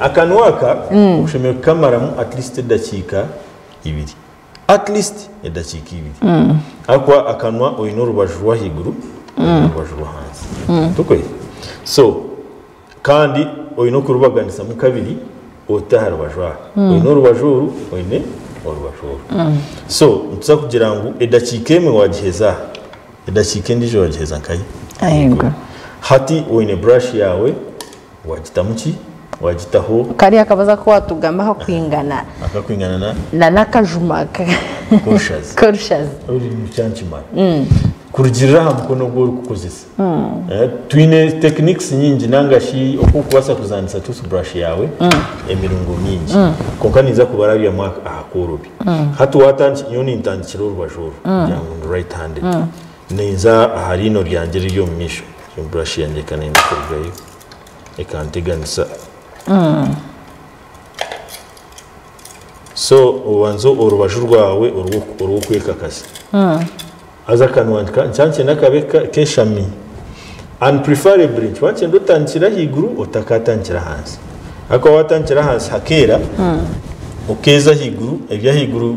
Akanwa aka okushemerire kukamaramu at least edakiika ibiri at least edakiika ibiri ahakuba akanwa oyine orubaju rwahiguru norubaju rwahansi tokwei so Kandi oyine okurubaganisamu kabiri ote aharubaju aha oyine orubaju oru oyine orubaju oru so nituza kugira ngu edakiika emwe wagiheza aha edakiika endijo wagiheza nkahi hati oyine brush yawe Waagitamu ki? Waagitaho. Kariya akabazo aku waatugamba akakwingana. Akakwingana na? Na n'akajuma ka. K'orushazi. K'orushazi. Orurimi rukira nikimara. Kurugiirira aha mukono ogu orikukozesa. Twine techniques nyingi nanga shi oku orikubaasa kuzaanisa toothbrush yaawe emirungo mingi. Kwonka ninza kubarabyamu aha koorobi. Hati waatandikira, nyowe nintandikira orubaju oru kugira ngu ndi right handed. Ninza aha riino ryangye eriri omu maisho. Egyo brush yangye eka neenda kurugayo, ekanteganisa. So obanza orubaju rwawe orw'okwekakasa. Haza akanwa nikaba nikyenda kabe keshami. And preferably nikikaba nikyenda otandikire ahaiguru otakaatandikire ahansi. Ahakuba waatandikira ahansi hakeera, okeeza ahaiguru, eby'ahaiguru.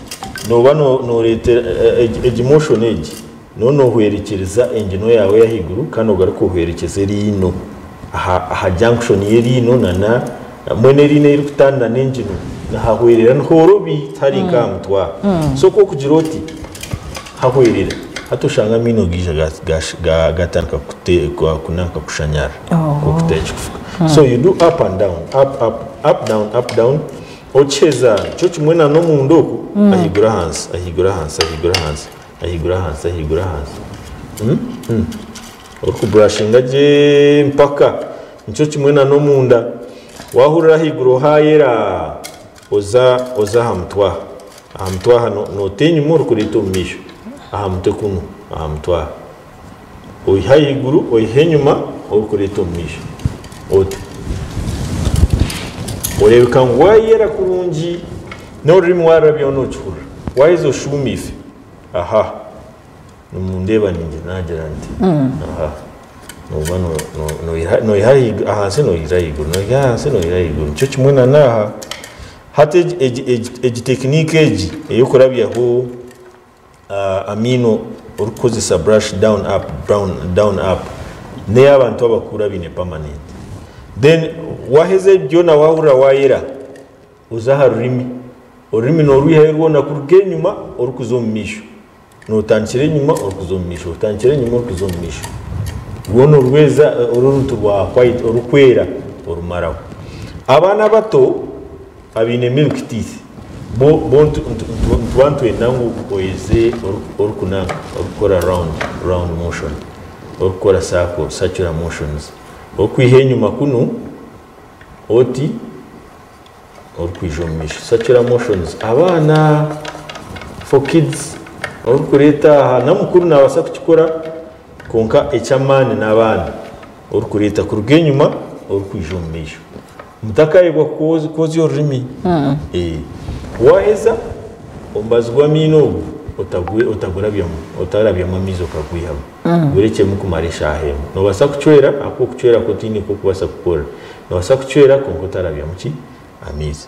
Nooba nooreeta egi motion egi, nooba noohwerekyereza enginwa yaawe ey'ahaiguru kandi ogaruke ohwerekyeze eriino aha junction y'eriino nana mbwenu eriino ei ririkutandira n'enginwa nihahwerera nihorobi tihari nk'aha mutwe aha. So ku orikugira oti hahwerera, hati oshanga amaino gaija gaatandika kunaanka kushanyara nk'oku tari kirikufuka. So you do up and down, up, up, up down, up down. Okiheza, nikyo kimwe na n'omunda oku, ahaiguru ahansi, ahaiguru ahansi, ahaiguru ahansi, ahaiguru ahansi, ahaiguru ahansi, orikuburashinga gye mpaka, nikyo kimwe na n'omunda, waahurira ahaiguru haayera, oza oza aha mutwe aha, aha mutwe aha, noota enyima orikureeta omu maisho, aha mutwe kunu, aha mutwe aha. oiha ahaiguru oiha enyima orikureeta omu maisho ota oreebeka ngu waayera kurungi n'orurimi waarurabyaho nookihurira waaheza oshuumiise aha nimundeeba ningira naagira nti aha nooba noiha ahansi noihira ahaiguru noiha ahansi noihira ahaiguru nikyo kimwe na n'aha hati egi tekiniki egi ey'okurabyaho amaino orikukozesa brush down up down down up neya abantu abakuru abine permanent then waheza ebi byona wahurira wayera oza aha rurimi orurimi norwihayo rwona kuruga enyuma orikuza omu maisho notandikira enyuma orikuza omu maisho otandikira enyuma orikuza omu maisho rwona orweza oruruntu rwa white orukwera orumaraho abaana abato Abaine milk teeth bo bo nituba nitwenda ngu oyeze orikunanka orikukora round round motion orikukora circle circular motions orikwiha enyuma kunu oti orikwija omu maisho circular motions abaana for kids orikureeta aha n'omukuru nabasa kukikora kwonka eky'amaani n'abaana orikureeta kuruga enyuma orikwija omu maisho. Mutakaayebwa kwozya orurimi. Waaheza omubazi gw'amaino ogu otagurabyamu, otarabyamu amaizi okagwihamu, gurekyemu kumara eshaaha emwe. Noobaasa kucwera ahakuba okucwera kwo tihaine oku orikubaasa kukukorera. Noobaasa kucwera kwonka otarabyamu ki? Amaizi.